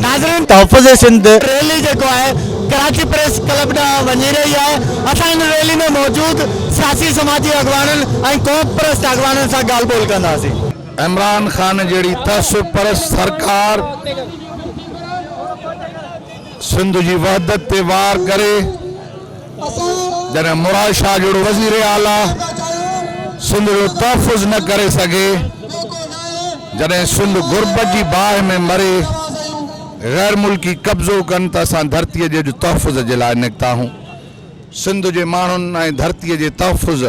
ناظرين تحفظ سنڌ ريلي جيڪو آهي ڪراچي پريس ڪلب ڏانهن وڃي رهي آهي اسان ان ريلي ۾ موجود سياسي سماجي اڳواڻن ۽ قوم پرست اڳواڻن سان ڳالهه ٻولهه ڪنداسين. عمران خان جهڙي تعصب پرست سرڪار. سنڌ جي وحدت تي وار ڪري جڏهن مراد شاهه جهڙو وزير اعليٰ سنڌ جو تحفظ نه ڪري سگهي، جڏهن سنڌ غربت جي باهه ۾ مري، غير ملڪي قبضو ڪن ته اسان ڌرتيء جي اڄ تحفظ جي لاء نڪتا هون. سنڌ جي ماڻهن ۽ ڌرتيء جي تحفظ.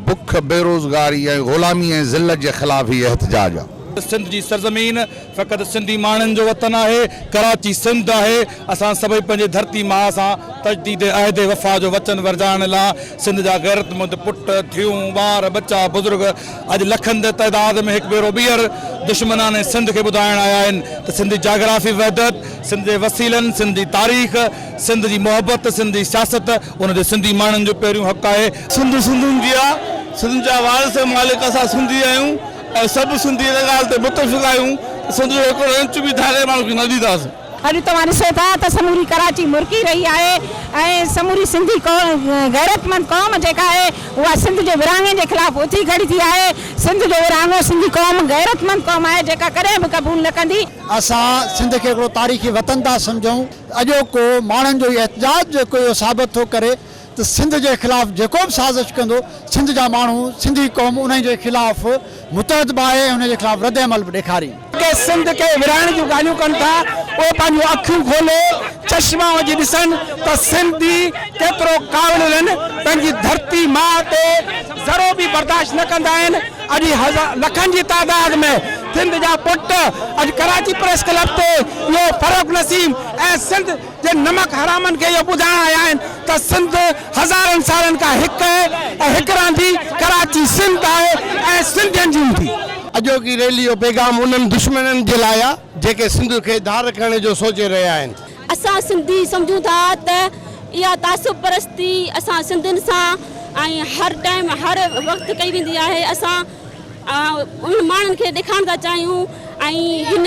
بک، بيروزگاري ۽ غلامي ۽ ذلت جي خلاف هي احتجاج آ. سنڌ جي سرزمين فقط سنڌي ماڻهن جو وطن آهي، ڪراچي سنڌ آهي، اسان سڀئي پنهنجي ڌرتي ماء سان تجديد عهد وفا جو وچن ورجائڻ لا سنڌ جا غيرتمند پٽ، ڌيئون، ٻار، ٻچا، بزرگ اڄ لکن جي تعداد ۾ هڪ ڀيرو ٻيهر دشمنان سنڌ کي ٻڌائڻ آيا آهن ته سنڌ جي جاگرافي وحدت، سنڌ جي وسيلن، سنڌ جي تاريخ، سنڌ جي محبت، سنڌ جي سياست، ان تي سنڌي ماڻهن جو پهريون حق آهي. سنڌ سنڌين جي آ، سنڌ جا وارث ۽ مالڪ اسان سنڌي آهيون ۽ سڀ سنڌي ان ڳالهه تي متفق آهيون ته سنڌ جو هڪڙو انچ به ڌارئين ماڻهن کي نه ڏينداسين. اڄ توهان ڏسو ٿا ته سموري ڪراچي مرڪي رهي آهي ۽ سموري سنڌي غيرتمند قوم جيڪا آهي اها سنڌ جي ورهاڱي جي خلاف اٿي کڙي ٿي آهي. سنڌ جو ورهاڱو سنڌي قوم غيرتمند قوم آهي جيڪا ڪڏهن به قبول نه ڪندي. اسان سنڌ کي هڪڙو تاريخي وطن ٿا سمجهون. اڄوڪو ماڻهن جو هي احتجاج جيڪو اهو ثابت ٿو ڪري ته سنڌ جي خلاف جيڪو به سازش ڪندو سنڌ جا ماڻهو سنڌي قوم انهي جي خلاف متحد به آهي ۽ انهي جي خلاف رد عمل به ڏيکارين. جيڪي سنڌ کي ورهائڻ جون ڳالهيون ڪن ٿا اهي پنهنجون اکيون کولي چشما وجهي ڏسن ته سنڌي ڪيترو ڪاوڙيلن پنهنجي ڌرتي ماء تي ذرو به برداشت نه ڪندا آهن اڄ لکن جي تعداد ۾ سنڌ جا پٽ اڄ ڪراچي پريس ڪلب تي اهو فرخ نسيم ۽ سنڌ جي نمڪ حرامن کي اهو ٻڌائڻ آيا آهن ته سنڌ هزارن سالن کان هڪ آهي ۽ هڪ رهندي، ڪراچي سنڌ آهي ۽ سنڌين جي هوندي. اڄوڪي ريلي جو پيغام انهن دشمنن جي لاء آ جيڪي سنڌ کي ڌار ڪرڻ جو سوچي رهيا آهن. اسان سنڌي سمجهون ٿا ته اها تعصب پرستي اسان سنڌين سان ۽ هر ٽائيم هر وقت ڪئي ويندي آهي اسان انهن ماڻهن کي ڏيکارڻ ٿا چاهيون ۽ هن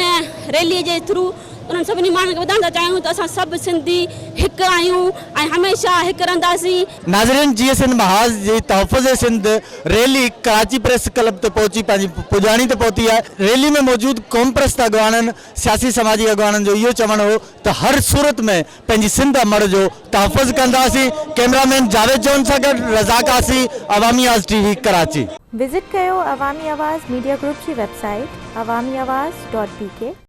ريلي جي ٿرو انهن سڀني ماڻهن کي ٻڌائڻ ٿا چاهيون ته اسان سڀ سنڌي هڪ آهيون ۽ هميشه هڪ رهنداسين. ناظرين جي ايس اين محاذ جي تحفظ Sindh rally Karachi press club تي پهچي پنهنجي پڄاڻي تي پهتي آهي ريلي ۾ موجود قومپرست اڳواڻن سياسي سماجي اڳواڻن جو اهو چوڻ هو ته هر صورت ۾ پنهنجي سنڌ امڙ جو تحفظ ڪنداسين، ڪيمرا مين جاويد جون سان گڏ رضا Qazi, Awami Awaz T V, Karachi. Visit ڪيو عوامي آواز ميڊيا گروپ جي website Awami Awaz dot بي ڪي.